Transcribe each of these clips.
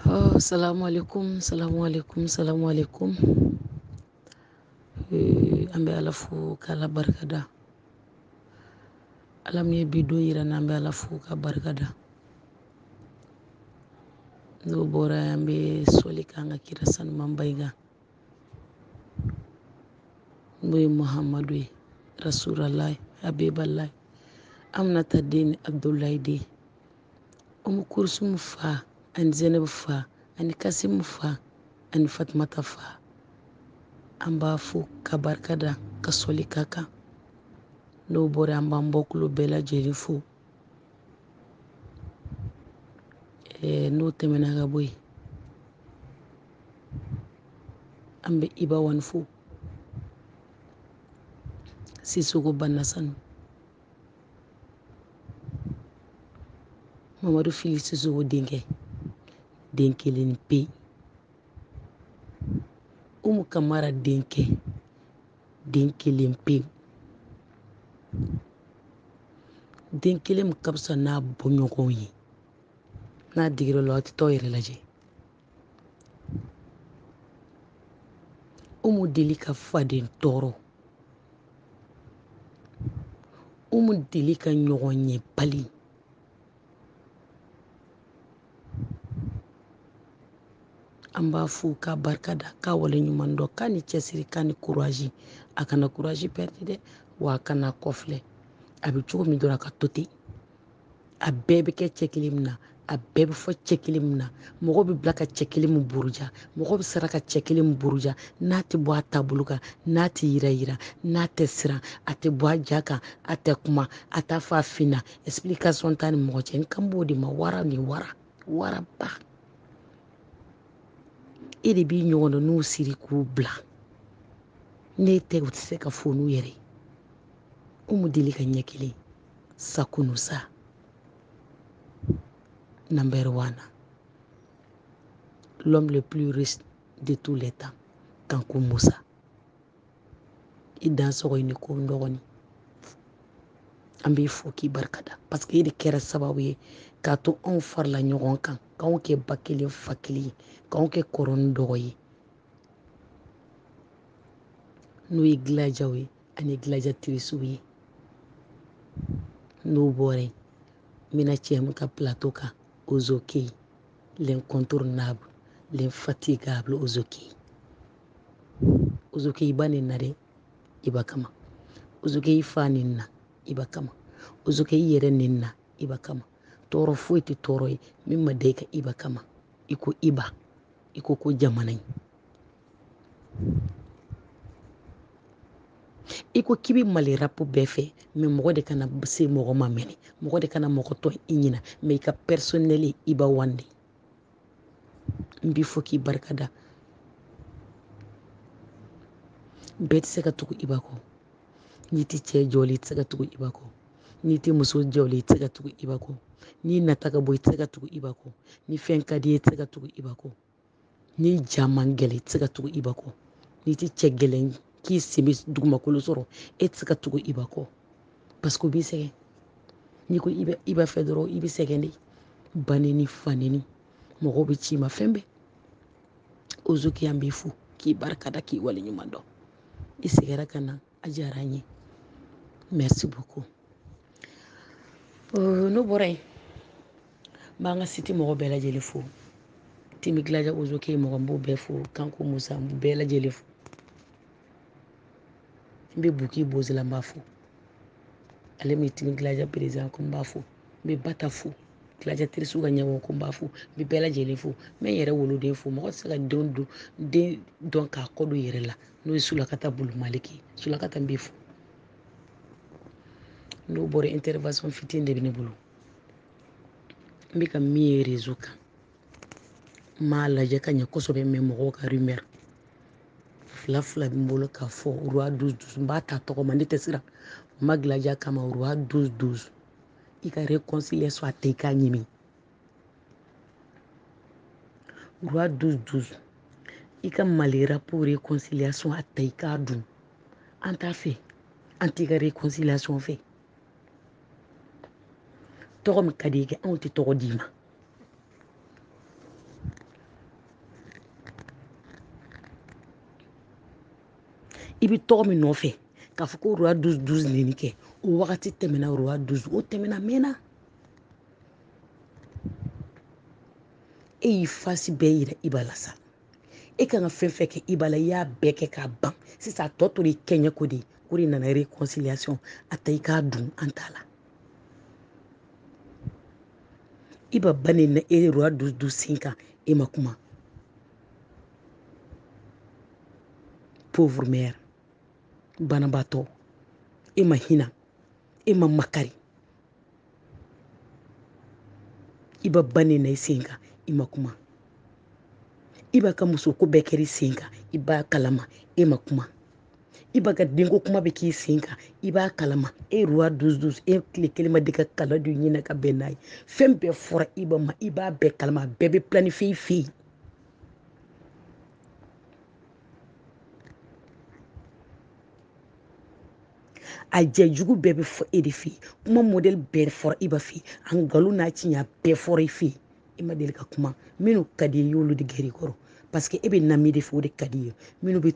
Oh, salamu alaikum, salamu alaikum, salamu alaikum. Eh, an bɛ ala fo k'ala barika da ala min ye bi don yira an na an bɛ ala fo k'a barika da n'o bɔra yen an bɛ sɔli k'an ka kira sanumanba in kan n'o ye muhamadu ye rasulalahi habibalahi aminata den abudulayi den umu kurusumu fa ani zɛnɛbu fa ani kasimu fa ani fatumata fa an b'a fo k'a barika da ka sɔli k'a kan n'o bɔra an b'an bɔkolo bɛɛ lajɛlen fo n'o tɛmɛna ka bɔ yen an bɛ iba one fo sisoko banasanu mamadu fili sisoko denkɛ den kelen pe umu kamara denkɛ den kelen pe den kelen min ka fisa n'a bɔɲɔgɔnw ye n'a digira aw la aw tɛ taa aw yɛrɛ lajɛ umu deli ka faden tɔɔrɔ umu deli ka ɲɔgɔn yebali an b'a fo k'a barika da k'a waleɲuman dɔn k'a ni cɛsiri k'a ni kurazi a kana kurazi pɛridi dɛ wa a kana kɔfilɛ a bɛ cogo min dɔrɔn a ka to ten a bɛɛ bɛ kɛ cɛ kelen min na a bɛɛ bɛ fɔ cɛ kelen min na mɔgɔ bɛ bila ka cɛ kelen min buruja mɔgɔ bɛ sara ka cɛ kelen min buruja n'a tɛ bɔ a taabolo kan n'a tɛ yɛrɛyɛrɛ n'a tɛ siran a tɛ bɔ a ja kan a tɛ kuma a t'a fɔ a finna explication t'a ni mɔgɔ cɛ n kan b'o de ma wara ni wara waraba e de b'i ɲɔgɔn dɔn n'u siri k'u bila n'e tɛ u tɛ se ka foni u yɛrɛ ye umu deli ka ɲɛ kelen sa kunu sa number one l'homme le plus riche de tous les temps kanku musa i dansogo i ni ko dɔgɔni an b'i fo k'i barika da parce que e de kɛra sababu ye k'a to anw farala ɲɔgɔn kan k'anw kɛ ba kelen fa kelen ye k'anw kɛ kɔrɔ ni dɔgɔ ye n'o ye gladiaw ye ani gilajatirisiw ye n'o bɔra yen n bɛna cɛ min ka plateau kan ozoke l'incontournable l'infatigable ozoke ozoke i ba nenna dɛ iba kama ozoke i fa nenna iba kama ozoke i yɛrɛ nenna iba kama tɔɔrɔ foyi tɛ tɔɔrɔ ye min ma da i kan iba kama i ko iba i ko ko jamana ye i ko k'i bɛ mali rapu bɛɛ fɛ mɛ mɔgɔ de kana se mɔgɔ ma mɛnɛ mɔgɔ de kana mɔgɔ tɔn i ɲina mɛ i ka pɛrisɔnɛli iba wan de n b'i fo k'i barika da bɛɛ tɛ se ka tugu iba kɔ n'i tɛ cɛ jɔlen i tɛ se ka tugu iba kɔ n'i tɛ muso jɔlen i tɛ se ka tugu iba kɔ n'i nata ka bon i tɛ se ka tugu iba kɔ ni fɛn ka di i ye i tɛ se ka tugu iba kɔ n'i ja man gɛlɛn i tɛ se ka tugu iba kɔ n'i tɛ cɛ gɛlɛn k'i sen bɛ dugumakolo sɔrɔ e tɛ se ka tugu iba kɔ paseke o b'i sɛgɛn n'i ko i b'a fɛ dɔrɔn i bɛ sɛgɛn de baneni faneni mɔgɔw bɛ ci i ma fɛn bɛɛ ozoke an b'i fo k'i barika da k'i waleɲuman dɔn i seginna ka na a diyara n ye merci beaucoup euh, n'o bɔra yen n b'an ka siti mɔgɔ bɛɛ lajɛlen fo timi gilaja ozoke mɔgɔ n b'o bɛɛ fo kanku musa n b'u bɛɛ lajɛlen fo n bɛ buki bozila n b'a fo ale min timi gilaja perezidan ko n b'a fo n bɛ bata fo gilajatirisiw ka ɲɛmɔgɔ ko n b'a fo n bɛ bɛɛ lajɛlen fo n bɛ n yɛrɛ woloden fo mɔgɔ tɛ se ka denw don den dɔn k'a kɔ don yɛrɛ la n'o ye sulakata bulu maliki ye sulakata n b'i fo n'o bɔra intervention fitinin de bɛ ne bolo n bɛ ka min ye rezo kan n m'a lajɛ ka ɲɛ kosɛbɛ mɛ mɔgɔw ka rumeur fila fila bɛ n bolo k'a fɔ roi douze douze n b'a ta tɔgɔ ma ne tɛ siran n ma gilaja kama roi douze douze i ka réconciliation a ta i k'a ɲimi roi douze douze i ka mali rapu réconciliation a ta i k'a dun an t'a fɛ an t'i ka réconciliation fɛ tɔgɔ min ka di i kɛ anw tɛ tɔgɔ d'i ma i bɛ tɔgɔ min nɔfɛ k'a fɔ ko roi douze douze nin kɛ o wagati tɛmɛna roi douze o tɛmɛna mɛnna e y'i fasi bɛɛ yira iba la sa e kan ka fɛn fɛn kɛ iba la i y'a bɛɛ kɛ k'a ban sisan a tɔ tora i kɛɲɛ ko de o de nana réconciliation a ta i k'a dun an t'a la iba ba nɛnna e roi douze douze sen kan e ma kuma pauvre mère banabaatɔ e ma hinɛ e ma makari iba ba nɛnna i sen kan i ma kuma iba ka musoko bɛɛ kɛra i sen kan i b'a kalama e ma kuma iba ka denko kuma bɛ k'i sen kan i b'a kalama e roi douze douze e tile kelen ma deli ka kala don ɲinɛ ka bɛn n'a ye fɛn bɛɛ fɔra iba ma i b'a bɛɛ kalama a bɛɛ bɛ planifié i fɛ yen a jɛ jugu bɛɛ bɛ fɔ e de fɛ yen kuma modèle bɛɛ fɔra iba fɛ yen a nkalon n'a tiɲɛ bɛɛ fɔra e fɛ yen e ma deli ka kuma minnu ka di i y'olu de gɛrɛ i kɔrɔ parce que e bɛ nami de fɛ o de ka di i ye minnu bɛ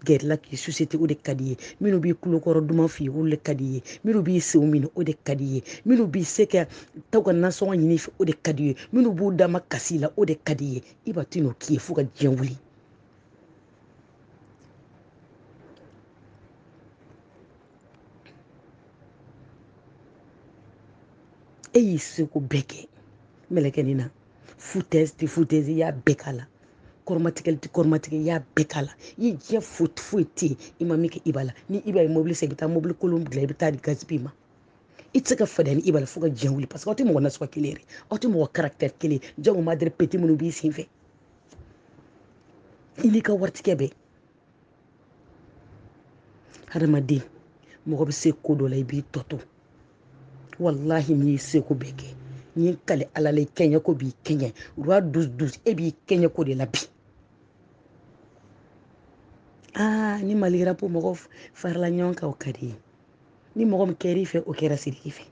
gɛr'i la k'i susite o de ka di i ye minnu b'i kulokɔrɔ duman f'i ye olu de ka di i ye minnu b'i senw minɛ o de ka di i ye minnu bɛ se ka taa u ka nasɔngɔ ɲini i fɛ o de ka di i ye minnu b'u damakasi i la o de ka di i ye iba tɛn'o k'i ye fo ka diɲɛ wuli e y'i seko bɛɛ kɛ mɛlɛkɛnin na foutaise tɛ foutaise i y'a bɛɛ k'a la kɔrɔmatigɛli tɛ kɔrɔmatigɛ i y'a bɛɛ k'a la i ye diɲɛ foyi foyi tɛ yen i ma min kɛ iba la ni iba ye mobili san i bɛ taa mobili kolon dilan i bɛ taa di gaspi ma i tɛ se ka fadenya ni iba la fo ka diɲɛ wuli parce que aw tɛ mɔgɔ nasuguya kelen yɛrɛ aw tɛ mɔgɔ caractère kelen jago madɛrɛ pete minnu b'i sen fɛ i n'i ka waritigi bɛɛ hadamaden mɔgɔ bɛ se ko dɔ la i b'i tɔ to walahi n'i ye seko bɛɛ kɛ n'i ye kali ala la i kɛɲɛ ko b'i kɛɲɛ roi douze douze e b'i kɛɲɛ ko de la bi aa ni mali ka rap mɔgɔw farala ɲɔgɔn kan o ka di i ye ni mɔgɔ min kɛr'i fɛ o kɛra sidiki fɛ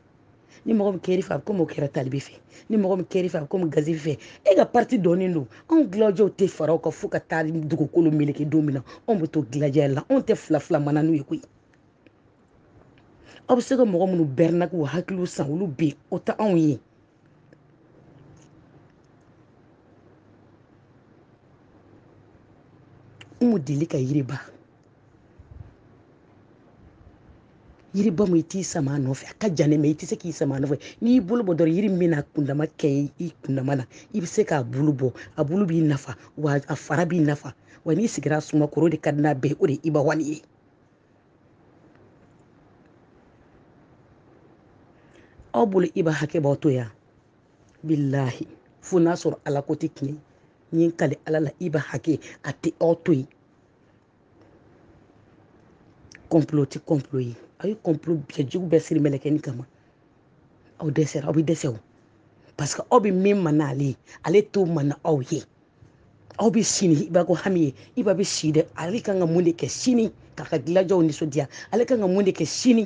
ni mɔgɔ min kɛr'i fɛ a bɛ komi o kɛra tal b fɛ ni mɔgɔ min kɛr'i fɛ a bɛ komi gaspi fɛ e ka parti dɔnnen don anw gladiaw tɛ fara o kan fo ka taa dugukolo meleke don min na anw bɛ to gladia la anw tɛ fila fila mana n'u ye koyi aw bɛ se ka mɔgɔ minnu bɛrɛnna k'u hakiliw san olu bɛ yen o tɛ anw ye umu deli ka yiriba yiriba mun i t'i sama a nɔfɛ a ka jan ne ma i tɛ se k'i sama a nɔfɛ n'i y'i bolo bɔ dɔrɔn yiri min bɛna kundama kɛ i kundama na i bɛ se k'a bulu bɔ a bulu b'i nafa wa a fara b'i nafa wa n'i sigira suma kɔrɔ o de ka di n'a bɛɛ o de ye iba wali ye aw bolo iba hakɛ b'aw to yan bilahi fo n'a sɔrɔ ala ko tɛ tiɲɛ n ye n kale ala la iba hakɛ a tɛ aw to yen complot tɛ complot ye aw ye complot bɛɛ jugu bɛɛ siri mɛlɛkɛni kama aw dɛsɛra aw bɛ dɛsɛ o parce que aw bɛ min ma n'ale ye ale t'o ma n'aw ye aw bɛ si ni iba ko hami ye iba bɛ si dɛ ale kan ka mun de kɛ sini k'a ka gilajɛw nisɔndiya ale kan ka mun de kɛ sini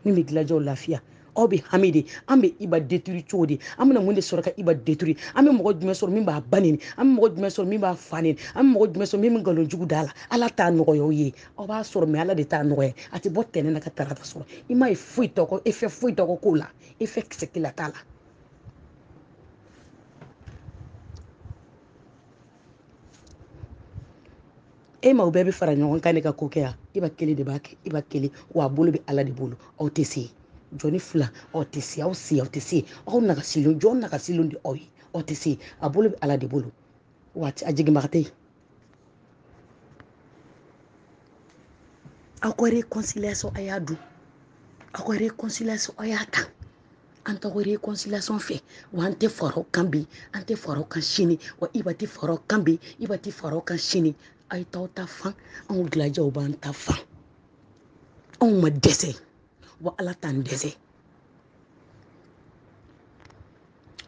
min bɛ gilajɛw lafiya aw bɛ hami de an bɛ iba détruire cogo di an bɛna mun de sɔrɔ ka iba détruire an bɛ mɔgɔ jumɛn sɔrɔ min b'a ba neni an bɛ mɔgɔ jumɛn sɔrɔ min b'a fa neni an bɛ mɔgɔ jumɛn sɔrɔ min bɛ nkalon jugu da la ala t'a nɔgɔya aw ye aw b'a sɔrɔ mɛ ala de t'a nɔgɔya a tɛ bɔ tɛnɛ na ka tarata sɔrɔ i m'a ye foyi tɔgɔ effet foyi tɔgɔ k'o la effet kisɛ kelen t'a la e ma o bɛɛ bɛ fara ɲɔgɔn kan de ka ko kɛ yan iba kelen de b'a kɛ iba kelen wa a bolo bɛ ala de bolo aw tɛ se jɔnni fila aw tɛ se aw se aw tɛ se aw nagasilen jɔn nagasilen de aw ye aw tɛ se a bolo bɛ ala de bolo wa a jiginbaga tɛ yen aw ka réconciliation a y'a dun aw ka réconciliation a y'a ta an t'aw ka réconciliation fɛ wa an tɛ fara aw kan bi an tɛ fara aw kan sini wa iba tɛ fara aw kan bi iba tɛ fara aw kan sini a ye t'aw ta fan anw gilajɛw b'an ta fan anw ma dɛsɛ wa ala t'an dɛsɛ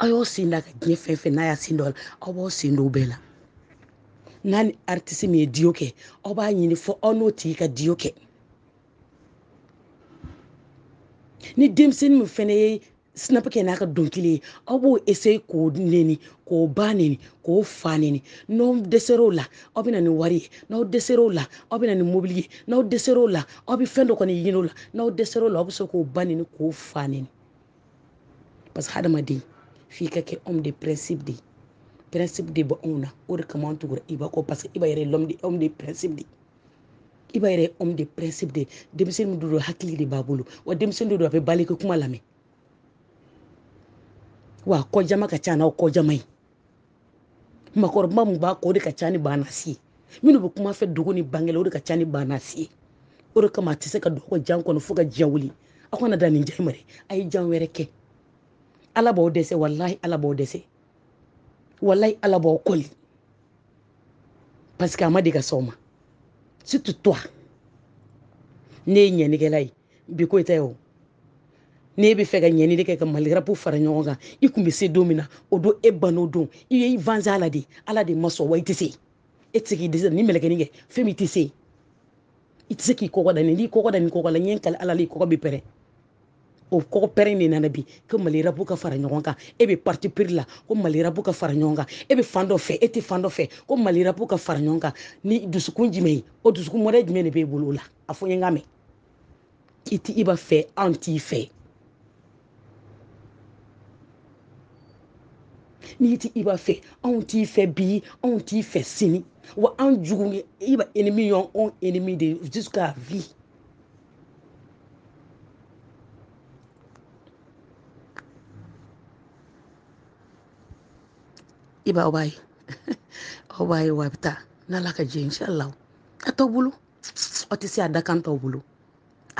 aw y'aw sen da ka diɲɛ fɛn fɛn n'a y'a sen don o la aw b'aw sen don o bɛɛ la n'a ni artiste min ye duo kɛ aw b'a ɲini fo aw n'o tigi ka duo kɛ ni denmisɛnnin min fɛnɛ ye snap kɛ n'a ka dɔnkili ye aw b'o essayer k'o neni k'o ba neni k'o fa neni n'aw dɛsɛr'o la aw bɛ na ni wari ye n'aw dɛsɛr'o la aw bɛ na ni mobili ye n'aw dɛsɛr'o la aw bɛ fɛn dɔ kɔni ɲini o la n'aw dɛsɛr'o la aw bɛ se k'o ba neni k'o fa neni parce que hadamaden f'i ka kɛ homme de principe de ye principe de bɛ anw na o de kama an tugura iba kɔ parce que iba yɛrɛ ye l'homme de homme de principe de ye iba yɛrɛ homme de principe de denmisɛnnin min don hakili de b'a bolo wa denmisɛnnin de don a bɛ baliku kuma lamɛn wa kɔjama ka ca n'aw kɔjama ye makɔrɔba mun b'a kɔ o de ka ca ni banasi ye minnu bɛ kuma fɛ dogo ni bangɛ la o de ka ca ni banasi ye o de kama a tɛ se ka don aw ka jan kɔnɔ fo ka diɲɛ wuli aw kana da nin jan ma dɛ a ye jan wɛrɛ kɛ ala b'aw dɛsɛ walahi ala b'aw dɛsɛ walahi ala b'aw kɔli parce que a ma deli ka s'aw ma surtout toi ne ye ɲɛnikɛla ye bi ko i tɛ o n'e bɛ fɛ ka ɲɛni de kɛ ka mali rap fara ɲɔgɔn kan i kun bɛ se don min na o don e ban'o don i ye i vanze ala de ala de ma sɔn wa i tɛ se e tɛ se k'i dɛsɛ ni mɛlɛkɛni kɛ fɛn min i tɛ se i tɛ se k'i kɔkɔ da nin n'i kɔkɔ da nin kɔkɔ la n ye n kali ala la i kɔkɔ bɛ pɛrɛn o kɔkɔ pɛrɛn de nana bi ko mali rap ka fara ɲɔgɔn kan e bɛ parti pris la ko mali rap ka fara ɲɔgɔn kan e bɛ fan dɔ fɛ e tɛ fan dɔ fɛ ko mali rap ka fara ɲɔgɔn kan ni dusukun jumɛn ye o dusukun mɔdɛ jumɛn de b'e bolo o la a fɔ n ye n ka mɛn i tɛ iba fɛ an t'i fɛ n'i tɛ iba fɛ anw t'i fɛ bi anw t'i fɛ sini wa an jugu iba ennemi y'an ennemi de jusqu'à vie iba a b'a ye aw b'a ye wa a bɛ taa n'ala ka jɛ inshallah a t'aw bolo aw tɛ se a da kan t'aw bolo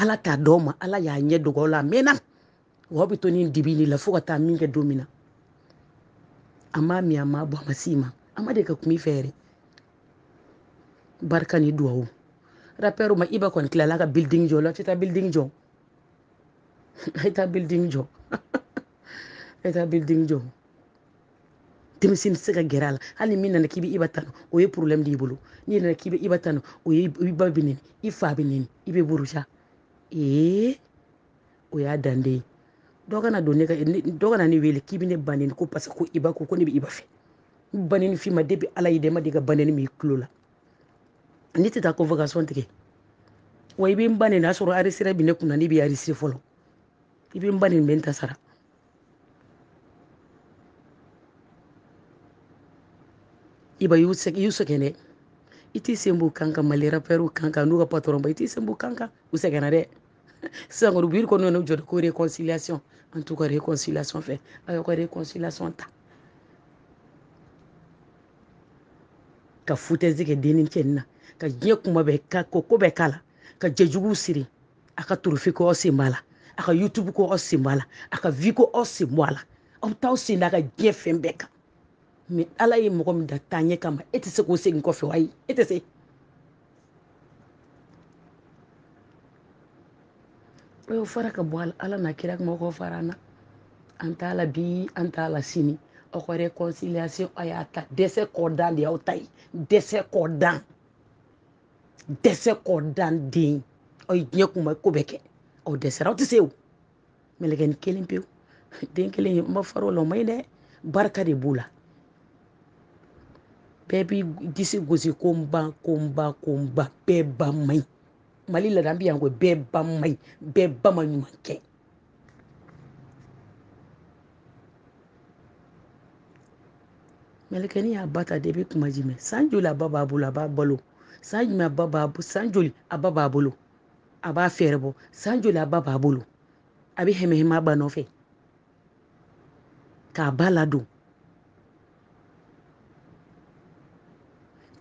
ala t'a d'aw ma ala y'a ɲɛ dogo aw la a mɛnna wa aw bɛ to nin dibi de la fo ka taa min kɛ don min na a m'a min a m'a bɔ a ma s'i ma a ma deli ka kuma i fɛ yɛrɛ barika ni duwawu rapɛriw ma iba kɔni tilala ka building jɔ la a tɛ taa building jɔ a ye taa building jɔ a ye taa building jɔ denmisɛnnin tɛ se ka gɛrɛ a la hali ni min nana k'i bɛ iba tanu o ye problème de y'i bolo n'i nana k'i bɛ iba tanu o ye i ba bɛ neni i fa bɛ neni i bɛ buruja ee o y'a dan de ye dɔ kana don ne ka dɔ kana ne wele k'i bɛ ne ba neni ko parce que ko iba ko ko ne bɛ iba fɛ n baneni f'i ma depuis ala y'i da i ma deli ka baneni mɛn i tulo la ne tɛ taa convocation tigɛ wa i bɛ n ba neni n'a sɔrɔ enregistreur bɛ ne kunna ne bɛ enregistrer fɔlɔ i bɛ n ba neni n bɛ n ta sara iba y'u sɛgɛn dɛ i t'i sen b'u kan kan mali rapɛriw kan kan n'u ka patɔrɔn ba i t'i sen b'u kan kan u sɛgɛnna dɛ sisan kɔni biri kɔnɔ ne jɔrɔ ko réconciliation an t'u ka réconciliation fɛ a y'aw ka réconciliation ta ka foutaise kɛ denni cɛni na ka diɲɛ kuma bɛɛ ka ko ko bɛɛ k'a la ka jɛjuguw siri a ka trophée ko aw sen b'a la a ka youtube ko aw sen b'a la a ka vue ko aw sen bɔ a la aw bɛ taa aw sen da a ka diɲɛ fɛn bɛɛ kan mais ala ye mɔgɔ min da taaɲɛ kama e tɛ se k'o segin kɔfɛ ayi e tɛ se o y'o fara ka bɔ a la ala n'a kira kama k'o fara an na an t'a la bi an t'a la sini aw ka réconciliation a y'a ta dɛsɛ kɔdan de y'aw ta ye dɛsɛ kɔdan dɛsɛ kɔdan den aw ye diɲɛ kuma ko bɛɛ kɛ aw dɛsɛra aw tɛ se o mɛlɛkɛni kelen pewu den kelen ye n ma far'o la o ma ɲi dɛ barika de b'o la bɛɛ b'i disi gosi ko n ba ko n ba ko n ba bɛɛ ba man ɲi mali laada bi yan ko bɛɛ ba man ɲi bɛɛ ba ma ɲuman kɛ mɛlɛkɛni y'a ba ta depuis kuma jumɛn san joli a ba b'a bolo a b'a balo san jumɛn a ba b'a bolo san joli a ba b'a bolo a b'a fɛɛrɛ bɔ san joli a ba b'a bolo a bɛ hɛmɛhɛmɛ a ba nɔfɛ k'a ba ladon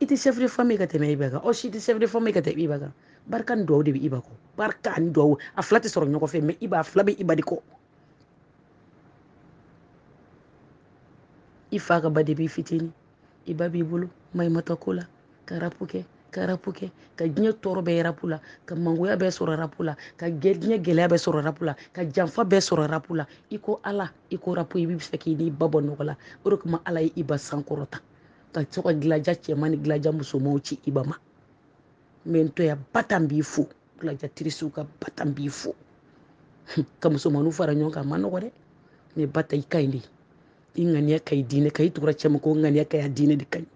i tɛ chef de famille ka tɛmɛ iba kan aw si tɛ chef de famille ka tɛmɛ iba kan barika ni duwawu de bɛ iba kɔ barika ani duwawu a fila tɛ sɔrɔ ɲɔgɔn fɛ mɛ iba a fila bɛ iba de kɔ i fa ka ba depuis i fitinin i ba b'i bolo maɲumantɔ ko la ka rapu kɛ ka rapu kɛ ka diɲɛ tɔɔrɔ bɛɛ ye rapu la ka mangoya bɛɛ sɔrɔ rapu la ka diɲɛ gɛlɛya bɛɛ sɔrɔ rapu la ka janfa bɛɛ sɔrɔ rapu la i ko ala i ko rapu i b'a fɛ k'i n'i ba bɔ nɔgɔ la o de kama ala ye iba sankɔrɔta ka to ka gilaja cɛman ni gilaja musomanw ci iba ma mɛ n to yan batan b'i fo gilaja tirisiw ka batan b'i fo ka musomanninw fara ɲɔgɔn kan a ma nɔgɔ dɛ mɛ ba ta i ka ɲi de i ŋaniya ka ɲi diinɛ ka i tugura cɛ ma ko ŋaniya ka ɲi a diinɛ de ka ɲi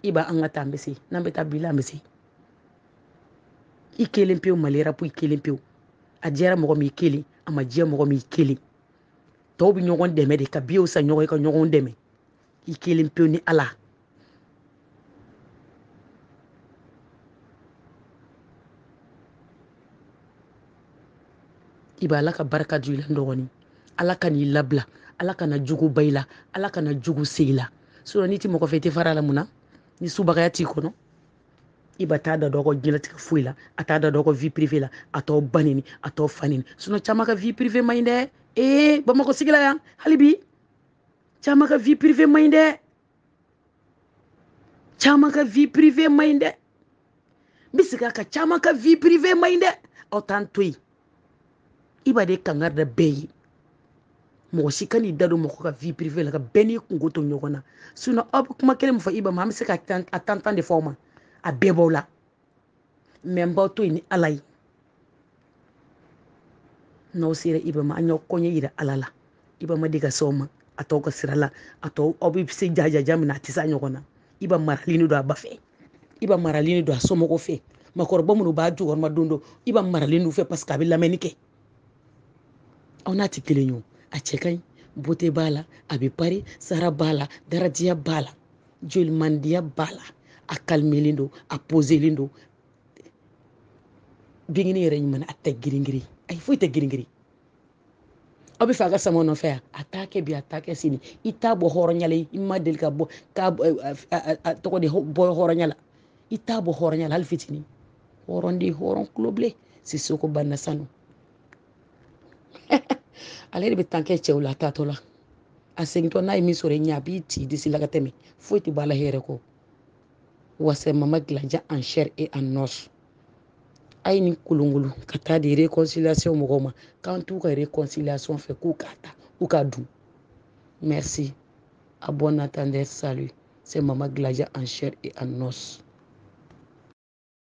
iba an ka taa an bɛ se n'an bɛ taa bi la an bɛ se i kelen pewu mali rapu i kelen pewu a diyara mɔgɔ min i kelen a ma diya mɔgɔ min i kelen tɔw bɛ ɲɔgɔn dɛmɛ de ka biyew san ɲɔgɔn ye ka ɲɔgɔn dɛmɛ i kelen pewu ni ala iba ala ka barika don i la dɔgɔnin ala kan'i labila ala kana jugu ban i la ala kana jugu se i la sinɔn n'i ti mɔgɔ fɛ i tɛ far'a la mun na ni subagaya t'i kɔnɔ iba t'a da don aw ka diɲɛlatigɛ foyi la a t'a da don aw ka vie privée la a t'aw ba nɛni a t'aw fa nɛni sinɔn caman ka vie privée man ɲi dɛ ee bamakɔ sigila yan hali bi caman ka vie privée man ɲi dɛ caman ka vie privée man ɲi dɛ n bɛ segin a kan caman ka vie privée man ɲi dɛ aw t'an to yen iba de kangari da bɛɛ ye mɔgɔ si kan'i da don mɔgɔ ka vie privée la ka bɛɛ n'i kunko to ɲɔgɔn na sinon aw bɛ kuma kelen min fɔ iba ma an bɛ se ka a tantan de fɔ aw ma a bɛɛ b'aw la mɛ n b'aw to yen ni ala ye n'aw sera iba ma an y'aw kɔɲɛ yira ala la iba ma deli ka se aw ma a t'aw ka sira la a tɔw aw bɛ se jajaja min na a tɛ se a ɲɔgɔn na iba maralen don a ba fɛ iba maralen don a somɔgɔw fɛ makɔrɔba minnu b'a jukɔrɔmadondon iba maralen u fɛ parce que a bɛ lamɛnni kɛ aw n'a tɛ kelen ye o a cɛ ka ɲi beauté b'a la a bɛ pari sara b'a la daraja b'a la jolimandiya b'a la a kalimelen don a pozelen don binkini yɛrɛ ɲuman a tɛ giringirin ayi foyi tɛ giringirin aw bɛ fɛ a ka sama nɔfɛ yan a t'a kɛ bi a t'a kɛ sini i t'a bɔ hɔrɔnya la i ma deli ka bɔ k'a tɔgɔ de bɔ hɔrɔnya la i t'a bɔ hɔrɔnya la hali fitinin hɔrɔnden hɔrɔn kulo bilen sisoko banna sanu ale de bɛ tan kɛ cɛw la a taatɔ la a segintɔ n'a ye min sɔrɔ i ɲɛ a b'i ci disi la ka tɛmɛ foyi tɛ bɔ a la hɛrɛ kɔ wa c'est mama gladia en chair et en os a ye nin kolonkolon ka taa di réconciliation mɔgɔw ma k'an t'u ka réconciliation fɛ k'u k'a ta u k'a dun merci à bon entendeur salut c'est mama gladia en chair et en os